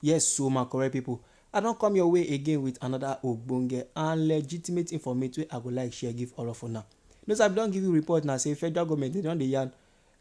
Yes so ma correct pipo, I don come your way again with another ogbonge and legitimate informate wey I go like share give all of una. No sir I be don give you report na say federal government dem don dey yarn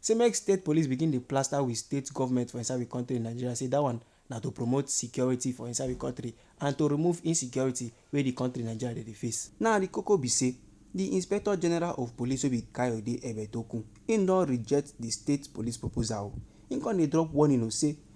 say make state police begin dey plaster we state government for inside we country Nigeria say that one na to promote security for inside we country and to remove insecurity wey the country Nigeria dey dey face. Now the koko be say the inspector general of police wey be Kayode Ebetokun him don reject the state police proposal o, him come dey drop warning o say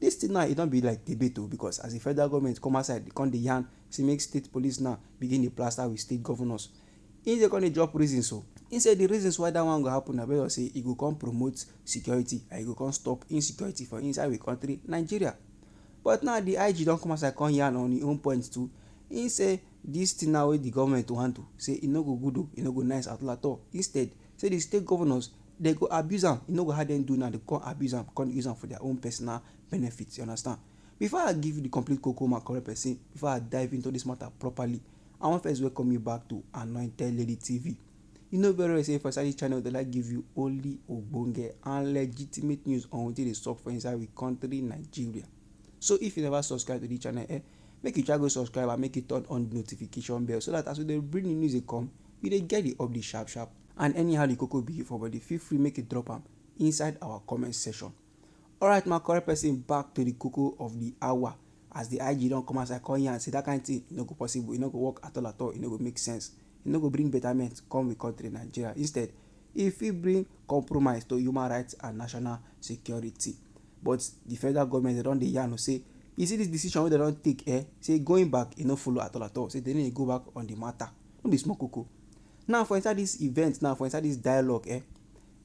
Dis thing now e don be like debate o because as the federal government come outside dey come dey yarn say make state police now begin dey plaster with state governors, im sef come dey drop reasons o. Im say the reasons why dat one go happen na base on say e go come promote security and e go come stop insecurity for inside we country Nigeria. But now the IG don come outside come yarn on im own point too. Im say dis thing now wey the government wan do say e no go good o, e no go nice at all at all. Instead, Say the state governors dem go abuse am e no go how dem do now dem go come abuse am come dey use am for their own personal benefit you understand before I give you the complete koko my correct person before I dive into this matter properly I wan first welcome you back to Anointed Lady TV you know very well say for inside this channel they like give you only ogbonge and legitimate news on wetin dey sup for inside we country Nigeria so if you never subscribe to this channel eh make you try go subscribe and make you turn on the notification bell so that as we dey bring the news dey come You dey get the update sharp sharp and anyhow the koko be for body feel free make you drop am inside our comment section. Alright my correct person back to the koko of the hour as the IG don come outside come yarn say that kind thing e no go possible, e no go work at all at all, e no go make sense, e no go bring betterment come we country Nigeria instead e fit bring compromise to human right and national security but the federal government dem don dey yarn say you see this decision wey dem don take um say going back e no follow at all at all say dem no dey go back on the matter. no be small koko. Now for inside dis event now, for inside dis dialogue eh,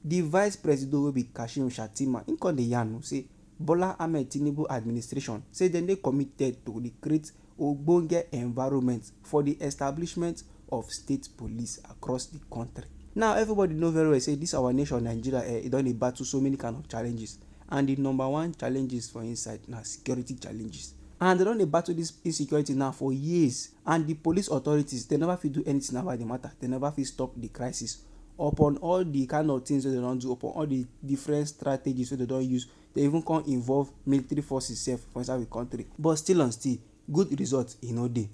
di vice presido wey be Kashim Shattima im come dey yarn o say Bola Ahmed Tinubu administration say dem dey committed to dey create ogbonge environment for di establishment of state police across di country. Now everybody know very well say dis our nation Nigeria eh, e don dey battle so many kind of challenges And di number one challenges for inside na security challenges and dem don dey battle dis insecurity now for years and di police authorities dem never fit do anything about di matter, dem never fit stop di crisis upon all di kind of things wey dem don do, upon all di different strategies wey dem don use, dem even come involve military forces sef for inside we country but still on still good result e no dey.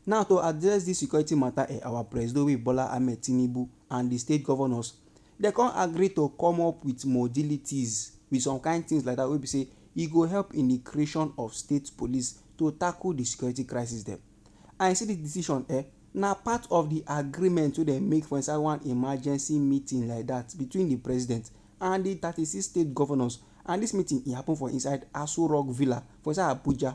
Now to address dis security matter eh, our Presido wey be Bola Ahmed Tinubu and di state governors Dem come agree to come up with modilities with some kind things like that wey be say e go help in the creation of state police to tackle the security crisis dem. And you see this decision eh, na part of the agreement wey dem make for inside one emergency meeting like that between the president and the thirty six state governors and this meeting e happen for inside Aso Rock Villa for inside Abuja.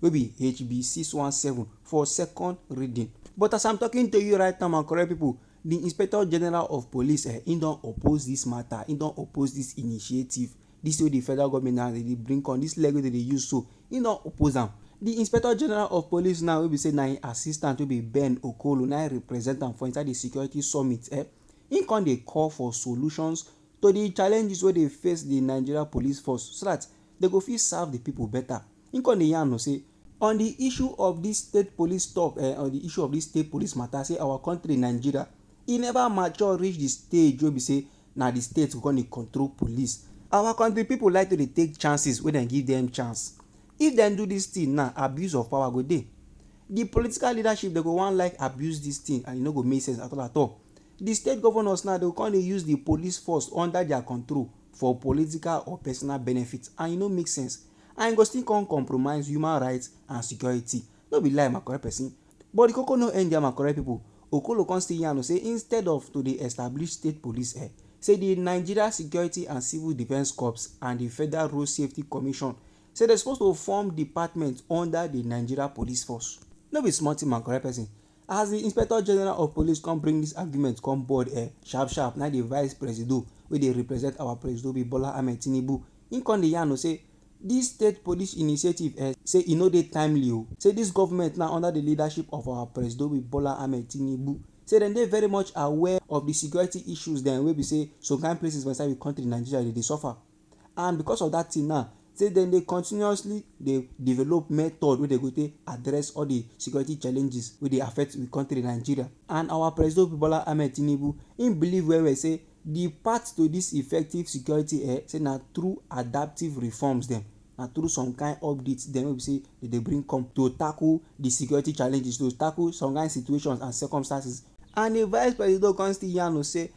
wey be HB 617 for second reading. But as I'm talking to you right now, my correct people, the Inspector General of Police, eh, he don oppose this matter, he don oppose this initiative. This way the federal government now they bring on this leg wey they dey use so, he don oppose am. The Inspector General of Police now wey be say na him assistant wey be Ben Okolo na him represent am for inside the security summit, eh, he come dey call for solutions to the challenges wey dey face the Nigeria police force so that they go fit serve the people better. Im come dey yarn o say on di issue of dis state police tok eh on di issue of dis state police matter say our country Nigeria e never mature reach di stage wey be say na di state go come dey control police. Our country people like to dey take chances wey dem give dem chance. If dem do dis thing now, abuse of power go dey. Di political leadership dem go wan like abuse dis thing and e no go make sense at all at all. Di state governors now dey go come dey use di police force under their control for political or personal benefit and e no make sense. and e go still come compromise human rights and security. No be lie my correct person. But the koko no end there my correct people. Okolo come still yarn say instead of to dey establish state police eh, say the Nigeria Security and Civil Defence Corps and the Federal Road Safety Commission say dem suppose to form department under the Nigeria Police Force. No be small thing my correct person. As di Inspector General of Police come bring dis argument come board eh, sharp sharp na di Vice Presido wey dey represent our Presido be Bola Ahmed Tinubu, im come dey yarn o say dis state police initiative eh say e no dey timely o, say dis government now under di leadership of our Presido be Bola Ahmed Tinubu say dem dey very much aware of di security issues dem wey be say some kind places for inside we country Nigeria dey dey suffer. and because of that thing now say dem dey continuously dey develop method wey dem go take address all the security challenges wey dey affect we country Nigeria and our Presido Bola Ahmed Tinubu him believe well well say the path to this effective security eh say na through adaptive reforms dem na through some kind updates dem wey be say dem dey bring come to tackle the security challenges to tackle some kind situations and circumstances and the vice presido come still yarn o say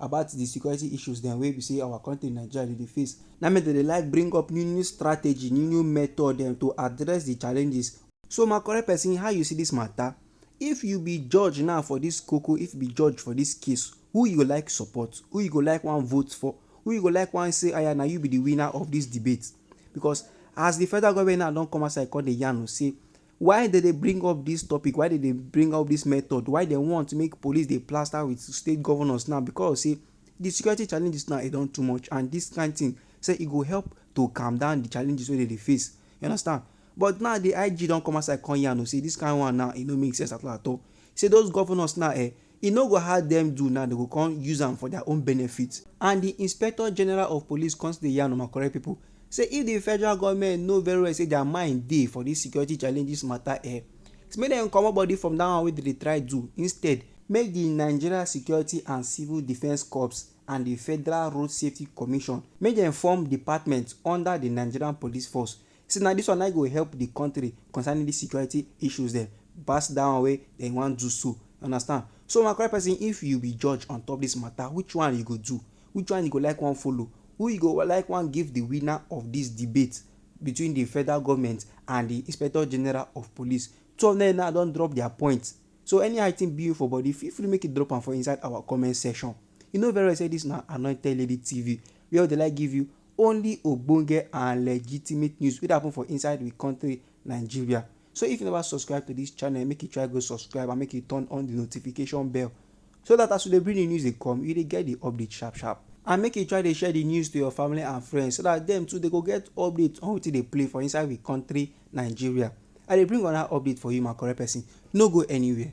about di security issues dem wey be say our country Nigeria dey dey face. Na me dem dey like bring up new new strategy, new new method dem to address di challenges. So my correct person how you see dis matter? If you be judge now for dis koko, if you be judge for dis case, who you go like support? Who you go like wan vote for? Who you go like wan say aya na you be di winner of dis debate? Because as di federal government now don come outside come dey yarn say Why dem dey bring up dis topic, why dem dey bring up dis method, why dem want make police dey plaster with state governors now because of sey de security challenges now e don too much and dis kind thing sey e go help to calm down de challenges wey dem dey face. You understand. But now de IG don come outside come yarn oo sey dis kind one now e no make sense at all at all. Sey those governors now um E no go hard dem do now dem go come use am for their own benefit. And the Inspector General of Police come still dey yarn on correct people say if the federal government know very well say their mind dey for this security challenges matter eh, say make dem comot body from that one wey dem dey try do instead, make the Nigeria Security and Civil Defence Corps and the Federal Road Safety Commission make dem form department under the Nigerian Police Force Say na dis one nai go help di kontri concerning dis security issues dem pass dat one wey dem wan do so, you understand. So my correct pesin if you be judge on top dis mata which one you go do, which one you go like wan follow, who you go like wan give di winner of dis debate between di federal government and di inspector general of police. Two of dem now don drop dia point so any how di tin be for body feel free make you drop am for inside our comment section. You know very well say dis na Anointed Lady TV wia we dey like give you only ogbonge and legitimate news wey dey happen for inside we country Nigeria. So if you never subscribe to this channel make you try go subscribe and make you turn on the notification bell so that as we dey bring the news dey come you dey get the update sharp sharp and make you try dey share the news to your family and friends so that dem too dey go get update on wetin dey play for inside we country Nigeria. I dey bring another update for you my correct person no go anywhere.